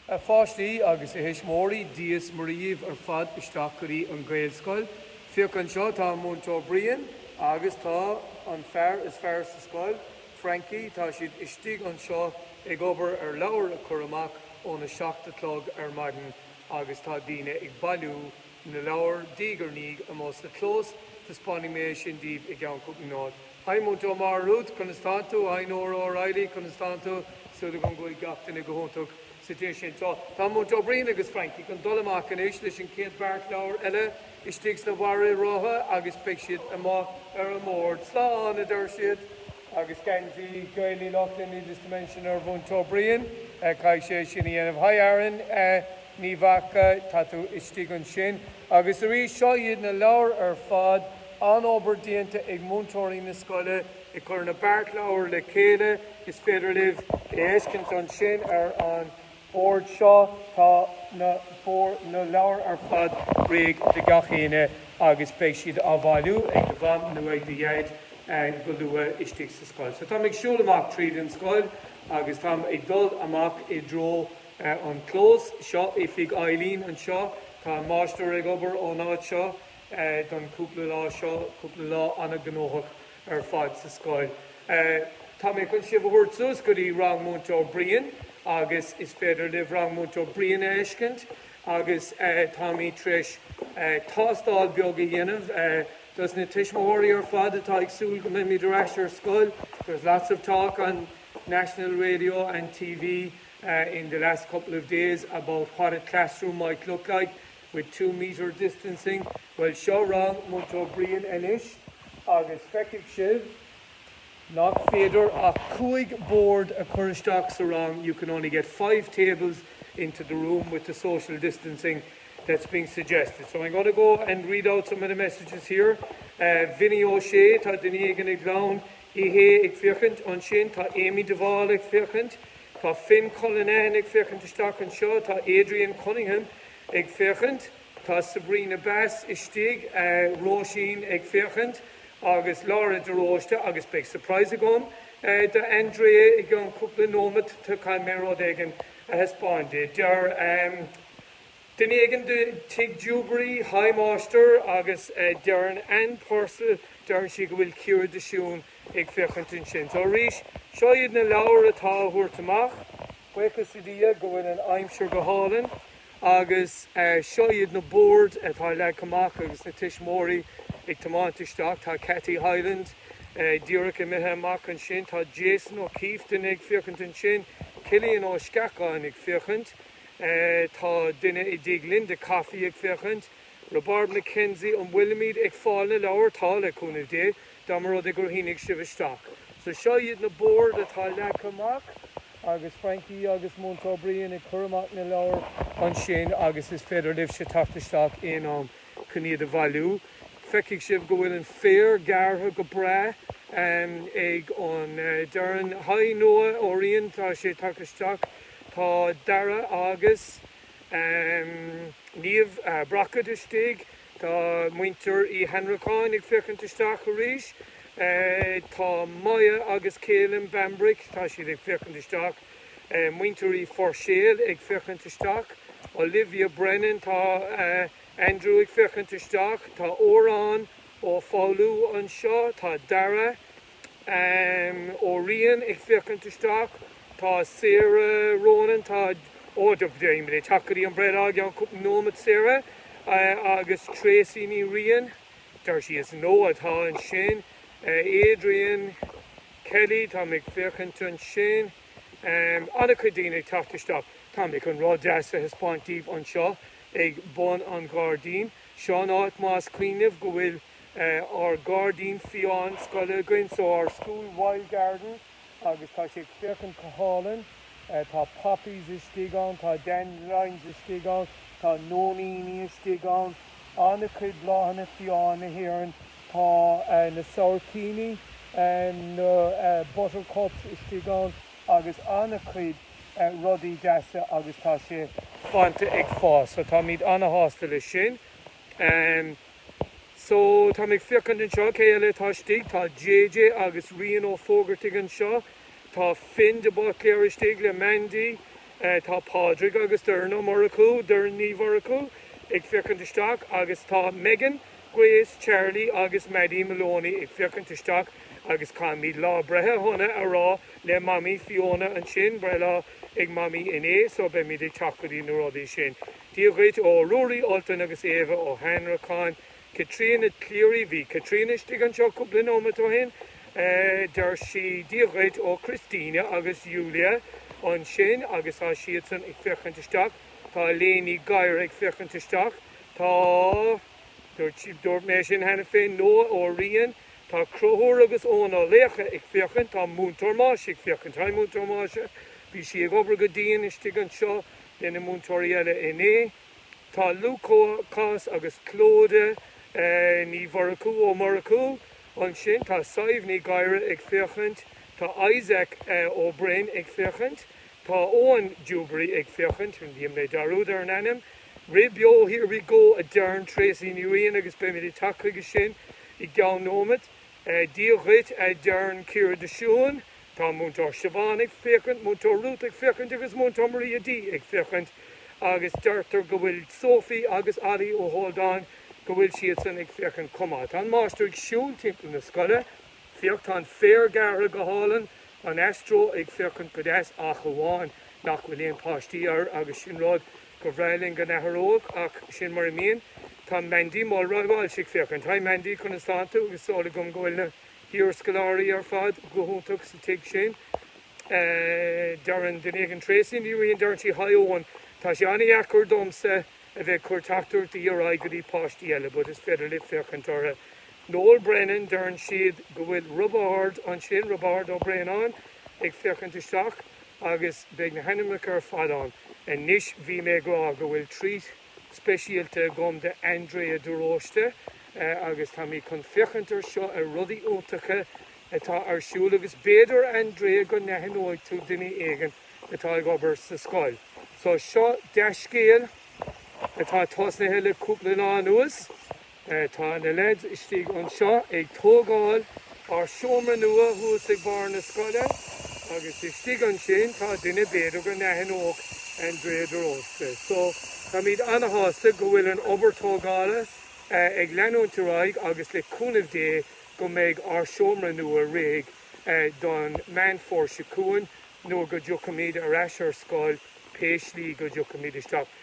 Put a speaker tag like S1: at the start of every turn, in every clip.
S1: A pháistí agus a thuismitheoirí, Dia is Muire daoibh ar fad isteach go dtí an Gaelscoil. Féach anseo, tá an Múinteoir Brian agus tá an fear is fearr sa scoil, Frankie, tá siad istigh anseo ag obair ar leabhair a chur amach óna seacht a chlog ar maidin agus tá daoine ag bailiú na leabhar diaidh ar ndiaidh amuigh sa chlós, taispeánfaidh mé sin daoibh i gceann cúpla nóiméad. Hi Múinteoir Ruth, conas tán tú? Hi Nóra O'Reilly, conas tán tú? Súil agam go bhfuil gach duine go hiontach sa tigh sin. Tá, tá Múinteoir Brian agus Frankie chun dul amach anois leis an chéad bheart leabhar eile istigh sa bhara rotha agus beidh siad amuigh ar an mbord. Slán, a deir siad. Agus geansaí Gaeil Uí Lochlainn, needless to mention, ar Mhúinteoir Brian. Caithfidh sé é sin a dhéanamh. Hi Aaron Ní Mhaca, tá tú istigh ansin. Agus arís, seo iad na leabhair ar fad. An-obair déanta ag múinteoirí na scoile ag cur na beart leabhar le chéile. Is féidir libh a fheiscint ansin ar an bord seo. Tá na na leabhair ar fad réidh do gach éinne agus beidh siad á bhailiú ag do mham nó ag do dhaid go luath istigh sa scoil. So táim ag siúl amach tríd an scoil agus táim ag dul amach i dtreo an clós. Seo oifig Eileen anseo. Tá an máistir ag obair ón áit seo. don chúpla lá seo, cúpla lá ana-ghnóthach ar fad sa scoil. Tá mé chun sibh a thabhairt suas go dtí rang Múinteoir Brian agus is féidir libh rang Múinteoir Brian a fheiscint agus táimid tar éis tástáil beag a dhéanamh dos na tuismitheoirí ar fad atá ag súil go mbeimid ar ais ar scoil. There is lots of talk on national radio and TV in the last couple of days about what a classroom might look like. with two metre distancing. Bhuel, seo rang Múinteoir Brian anois agus feicfidh sibh nach féidir ach cúig bord a chur isteach sa rang, you can only get five tables into the room with the social distancing that's being suggested. So I'm going to go and read out some of the messages here. Uh, Vinny O'Shea, tá duine éigin ag clann Uí Shé ag féachaint ansin, tá Amy Duval ag féachaint, tá Finn Cullinane ag féachaint isteach anseo, tá Adrian Cunningham ag féachaint, tá Sabrina Bass istigh, Róisín ag féachaint agus Laura de Róiste agus beidh surprise agam do Andrea i gceann cúpla nóimeat, caithfidh mé rud éigin a thaispeáint di. Deir duine éigin de, Tadhg Dewberry Hi Máistir agus deireann Anne Purcell deireann sí go bhfuil Ciara de Siún ag féachaint ansin. So arís, seo iad na leabhair atá á dtabhairt amach. Buíochas le Dia go bhfuil an aimsir go hálainn agus seo iad na boird atá leagtha amach agus na tuismitheoirí ag tiomáint isteach. Tá Kathy Hyland díreach imithe amach ansin. Tá Jason O'Keefe ag féachaint ansin. Cillian Ó Sceacháin ag féachaint. Tá duine i dTigh Linda Coffey ag féachaint. Robert McKenzie An bhfuilimid ag fáil na leabhar? Tá, le cúnamh Dé, dá mba rud é gur shínigh sibh isteach. So seo iad na boird atá leagtha amach agus Frankie agus Múinteoir Brian ag cur amach na leabhar ansin agus is féidir libhse teacht isteach aon am chun iad a bhailiú. Feicfidh sibh go bhfuil an féar gearrtha go breá ag Darren. Haigh Noah Ó Riain, tá sé tagtha isteach. Tá Darragh agus. Um Niamh Brockett istigh. Tá muintir Uí Annracháin ag féachaint isteach arís. Tá Maya agus Caelan Bambrick, tá siad ag féachaint isteach. Muintir Uí Phuirséil ag féachaint isteach. Olivia Brennan, tá Andrew ag féachaint isteach. Tá Odhrán Ó Foghlú anseo. Tá Darragh. Em Ó Riain ag féachaint isteach, Tá Sarah Ronan, tá ó táimid ag teacht go dtí an breithlá i gceann cúpla nóimeat Sarah agus Tracey Ní Riain, there she is, Noah atá ansin Adrian Kelly, táimid ag féachaint ansin an-chuid daoine ag teacht isteach. Tá mé chun rud deas a thaispeáint daoibh anseo ag bun an ghairdín. Seo an áit más cuimhin libh go bhfuil. ár gairdín fiáin scoile againn, so our school wild garden, agus tá sé ag féachaint go hálainn. Tá poppies istigh ann, tá dandelions istigh ann, tá nóiníní istigh ann, an-chuid bláthanna fiáin na hÉireann. Tá na sabhaircíní, na buttercups istigh ann agus an-chuid rudaí deasa agus tá sé fós ag fás, so táimid an-shásta leis sin. So, táimid ag féachaint anseo, cé eile atá istigh? Tá JJ agus Rian Ó Fógartaigh anseo. Tá Finn de Buitléir istigh le Mandy. Tá Pádraig agus Doireann Ó Murchú, Doireann Ní Mhurchú, ag féachaint isteach agus tá Megan, Grace, Charlie agus Maddy Maloney ag féachaint isteach agus caithfimid lá breithe shona a rá le Mamaí Fiona ansin, breithlá ag Mamaí inné so beimid ag teacht go dtí na rudaí sin. Dia dhuit ó Ruairí Ultan agus Éabha Ó hAnnracháin. Caitríona Cleary, Bhí Caitríona istigh anseo cúpla nóimeat ó shin, deir sí. Dia dhuit ó Christina agus Julia ansin agus tá siadsan ag féachaint isteach. Tá Elaine Ní Ghadhra ag féachaint isteach. Tá, dúirt mé sin cheana féin, Noah Ó Riain. Tá Conchúr agus Eoin Ó Laochdha ag féachaint. Tá Múinteoir Máise ag féachaint. Hi Múinteoir Máise. Bhí sí ag obair go dian istigh anseo. le na múinteoirí eile inné. Tá Lúcás agus Clodagh Ní Mhurchú, Ó Murchú, ansin, tá Sadhbh Ní Ghadhra ag féachaint, tá Isaac Ó Broin ag féachaint, tá Eoghan Dewberry ag féachaint, dhein mé dearúd ar an ainm? Rith beo, here we go a deireann Tracey Ní Riain agus beimid ag teacht chuige sin i gceann nóimeat. Dia dhuit a deireann Ciara de Siúin. Tá Múinteoir Siobhán ag féachaint, Múinteoir Ruth ag féachaint agus Múinteoir Maria D ag féachaint agus deirtear go bhfuil Sophie agus Ollie Ó hAldáin go bhfuil siadsan ag féachaint chomh maith. Tá an Máistir ag siúl timpeall na scoile. Féach, tá an féar gearrtha go hálainn, an Astro ag féachaint go deas ach amháin nach bhfuil aon páistí air agus sin rud gur bhreá linn go n-athródh ach sin mar a mbíonn. Tá Mandy Mulroy-Walsh ag féachaint. Hi Mandy, conas tánn tú? Agus súil agam go bhfuil na. hiarscoláirí ar fad go hiontach sa tigh sin. Deireann deireann Tracey Ní Riain, deireann sí Hi Eoghan, tá sé an-dheacair domsa a bheith ag cur teachtaireachtaí ar aghaidh go dtí páistí eile but is féidir libh féachaint orthu. Noel Brennan, deireann siad go bhfuil Roibeárd ansin, Roibeárd Ó Braonáin ag féachaint isteach agus beidh na hainmneacha ar fad ann. Anois bhí mé ag rá go bhfuil treat speisialta agam do Andrea de Róiste agus tá mé chun féachaint ar seo ar rudaí iontacha atá ar siúl agus b'fhéidir Andrea go n-aithneoidh tú duine éigin atá ag obair sa scoil. So seo dea-scéal atá tosnaithe le cúpla lá anuas. Tá na leaids istigh anseo ag tógáil ár seomra nua thuas ag barr na scoile agus istigh ansin tá duine b'fhéidir go n-aithneodh Andrea de Róiste. So, táimid ana-shásta go bhfuil an obair tógála ag leanúint ar aghaidh agus le cúnamh Dé go mbeidh ár seomra nua réidh don Meán Fómhair seo chugainn nuair go dtiocfaimid ar ais ar scoil pé slí go dtiocfaimid isteach.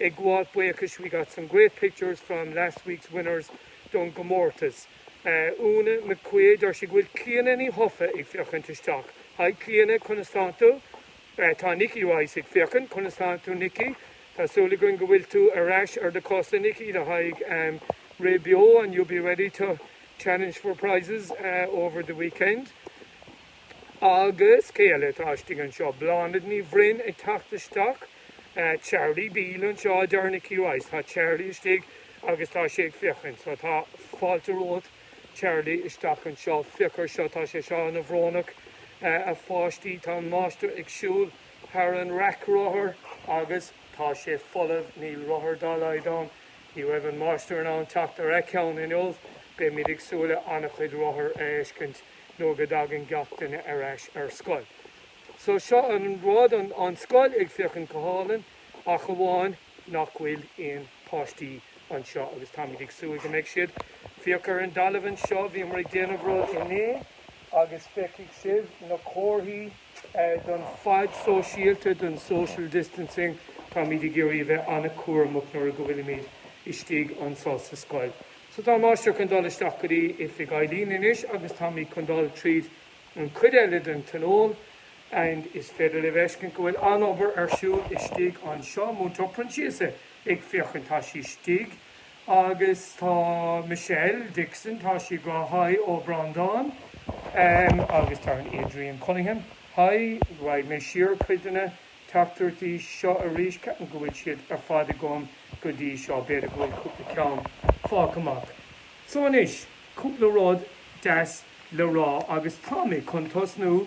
S1: Ag gabháil buíochais, we got some great pictures from last week's winners don gcomórtas. Úna McQuaid, deir sí go bhfuil Clíona Ní Chofaigh ag féachaint isteach. Hi Clíona, conas tá tú? Tá Nikki Rice ag féachaint, conas tánn tú Nikki? Tá súil againn go bhfuil tú ar ais ar do cosa Nikki le haghaidh rith beo and you'll be ready to challenge for prizes over the weekend. Agus cé eile atá istigh anseo? Bláthnaid Ní Bhroin ag teacht isteach. Tá Charlie Beale anseo, a deir Nicky Rice. Tá Charlie istigh agus tá sé ag féachaint. So tá fáilte romhat, Charlie, isteach anseo. Féach ar seo. Tá sé seo ana bhrónach, a pháistí. Tá an máistir ag siúl thar an raic rothar agus tá sé folamh. Níl rothar dá laghad ann. Ní raibh an máistir in ann teacht ar aon cheann inniu. Beimid ag súil le ana chuid rothar a fheiscint nuair go dtagann gach duine ar ais ar scoil. So seo an rud, an scoil ag féachaint go hálainn ach amháin nach bhfuil aon páistí anseo agus táimid ag súil go mbeidh siad. Féach ar an dtalamh anseo, bhíomar ag déanamh rud inné agus feicfidh sibh na comharthaí don fad sóisialta, don social distancing, táimid ag iarraidh a bheith an-chúramach nuair go bhfuilimid istigh anseo sa scoil. So tá an máistir chun dul isteach go dtí oifig Eileen anois agus táimid chun dul tríd an chuid eile den Tionól and is féidir libh a fheiscint go bhfuil an-obair ar siúl istigh anseo. Múinteoir Proinnsiasa ag féachaint, tá sí istigh agus tá Michelle Dixon, tá sí ag rá haigh ó Bhreandán ehm agus tá Adrian Cunningham, haigh, raghaidh mé siar cuid de na teachtaireachtaí seo arís, ceapaim go bhfuil siad ar fad agam go dtí seo, b'fhéidir go bhfuil cúpla ceann fágtha amach. So anois, cúpla rud deas le rá agus táimid chun tosnú